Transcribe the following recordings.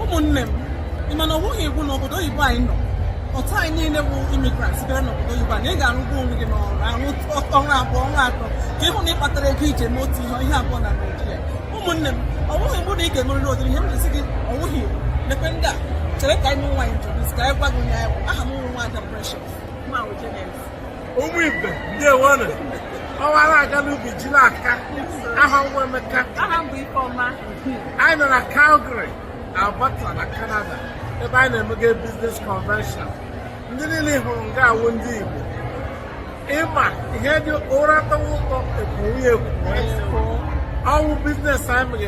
ụmụnne m ị ma na ọ bụghị iwu n'obodo oyibo anyị nọ otu anyị niile bụ imigrant bịara n'obodo oyibo a na ị ga-arụgbu onwe gị n'ọrụ arụ ọnwa abụọ ọnwa atọ ka ị hụ na ị kpatara ego ị ji eme otu ihe ihe abụọ na Naịjirịa ụmụnne m ọ bụghị iwu na ị ga-emerịrị ụdịrị ihe m na-asị gị ọ bụghị iwu lekwe ndị a chere ka anyị nwa introduce ka anyị gwa gị onye anyị bụ aha m wụ nwaada Precious ma ụmụ ibe ndeewonu ọwara aga n'ubi ji n'aka aha m wụ Emeka anyị nọ na Calgary Alberta na Canada ebe anyị na-emega biznes convention ndị niile ị hụrụ nga a wụ ndị Igbo ị ma ihe dị ụra tọwa ụtọ e kwowe ya ekwowe ọ wụ biznes anyị mere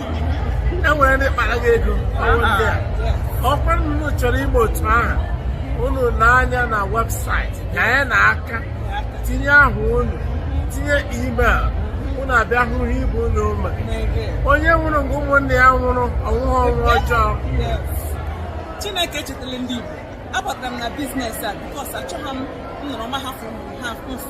e nwere ndị kpara gị ego ọ wụ ndị a ọ wụkwa na unu chọrọ ime otu ahụ unu lee anya na webụsaịtị ka ya na aka tinye aha unu tinye email unu abịa hụ ihe ibe unu eme onye nwụrụ nga ụmụnne ya nwụrụ ọ nwụghị ọnwụ ọjọọ Chineke echetala ndị Igbo abatara m na biznes a bikos achọghị m ịnọrọ ma hafụ ha mfụ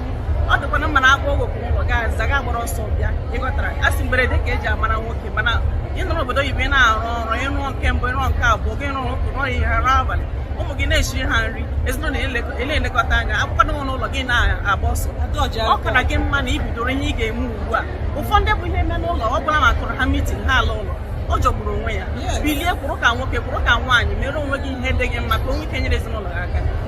ọ dịkwana mma na a kpọọ gị oku n'ụlọ ị ga-aza ị ga-agbara ọsọ bịa ị ghọtara a sị mberede ka e ji amara nwoke mana ị nọ n'obodo oyibo ị na-arụ ọrụ ị rụọ nke mbụ ị rụọ nke abụọ ị rụọ ụtụtụ rụọ ehihie rụọ abalị ụmụ gị na-eshiri ha nri ezinụlọ ị na-elekọta anya a kpọkwanụ oku n'ụlọ gị na-agba ọsọ ọ kara gị mma na i bidoro ihe ị ga-eme ugbu a ụfọdụ bụ ihe mee n'ụlọ ọ bụla ma a kụọrọ ha mitin ha alaa ụlọ ọ jọgburu onwe ya bilie kwụrụ ka nwoke kwụrụ ka nwaanyị mere onwe gị ihe dị gị mma ka i nwee ike nyere ezinụlọ gị aka